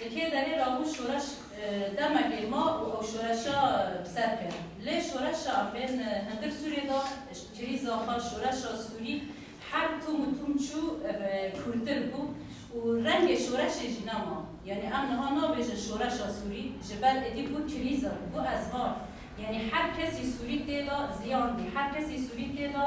Li kê derê rabû şoreş demekê ma û ew şoreşa bi ser kir. Lê şoreşa em bên hundir Sûriyê de krîza xwe şoreşa Sûrî her tom û tom çû ev kûrtir bû û rengê şoreşê jî nema. Yanî em niha nabêjin şoreşa Sûrî ji ber êdî bû krîza, bû ezvar. Yanî her kesî Sûrî tê de ziyan dî, her kesî Sûrî tê de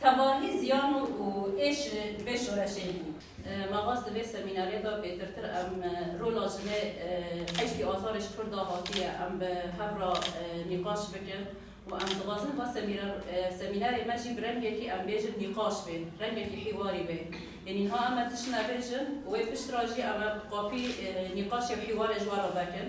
Tevahî ziyan û êş ji vê şoreşê bû. Me xwest di vê semînarê de pêtirtir em rola jinê heştî azarê ji kur de hatiye em bi hev re nîqaş bikin û em dixwazin va semînarê me jî bi rengekî em bêjin nîqaş bê, rengekî hîwarî bê. Yê nîha em tişt nebêjin û wê pişt re jî em qapî nîqaşê û hîwarê ji we re vekin.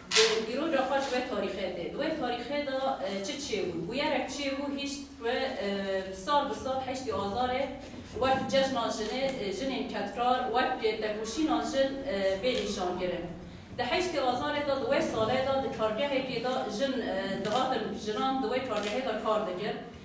Di îro de xwe ji wê tarîxê tê. Di wê tarîxê de çi çêbû? Bûyerek çêbû hîşt ku sal bi sal heştî Azarê wek cejna jinê, jinên kedkar wek têkoşîna jin bê nîşankirin. Di heştî Azarê de di wê salê de di kargehekê de jin dihatin jinan di wê kargehê de kar dikir.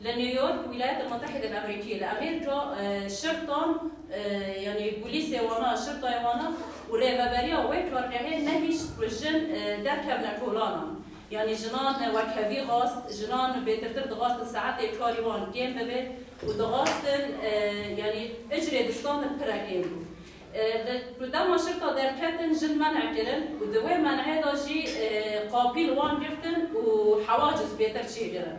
Li New York, Wîlayetên Mutehîdên Amerîkî li Amerîka şirtan yanî polîsê wan a, şirtayê wan a û rêveberiya wê kargehê nehîşt ku jin derkevne kolanan. Yanî jinan wekhevî xwast, jinan bêtirtir dixwastin saetê karî wan kêm bibe û dixwastin yanî icrê distan li pire kêm bû. Li ku dema şirta derketin jin men'e kirin û di wê men'ê de jî qapî li wan girtin û hewaciz pêtir çêkirin.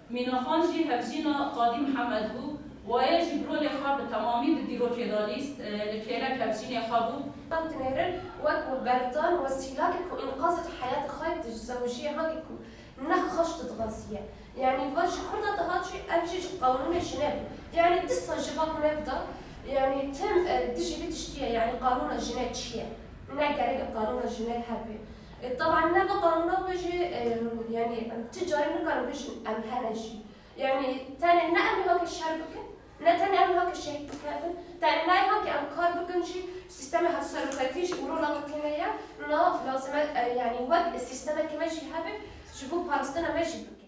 Mînaxan jî hevjîna Qadî Mihemed bû. Waye jî bi rolê xwe bi temamî di dîrokê de lîst. Li kêlek hevjînê xwe bû. Tan dinêrin wek û berdan û wesîlakê ku înqazê di heyatê xwe di ji zewjiyê hangî ku ne xweş didixwaziye. Yanî vat ji kurda dihat jî ev jî ji qanûnê jine bû. Yanî disa ji van nev de yanî tim dijî vî tiştî ye. Yanî qanûna jine çi ye? Ne gerek e qanûna jine hebe. Taban me bi qanûna xwe jî yanî em ti carî nikarin bijîn em hene jî. Yanî tenê ne em ê haki şer bikin, ne tenê em ê haki şehîd bikevin, tenê nayê haki em kar bikin jî sîstemê hevseroketî jî û rola me têne ye. Na lazim e yanî wek sîstemeke me jî hebe ji bo parastina me jî bikin.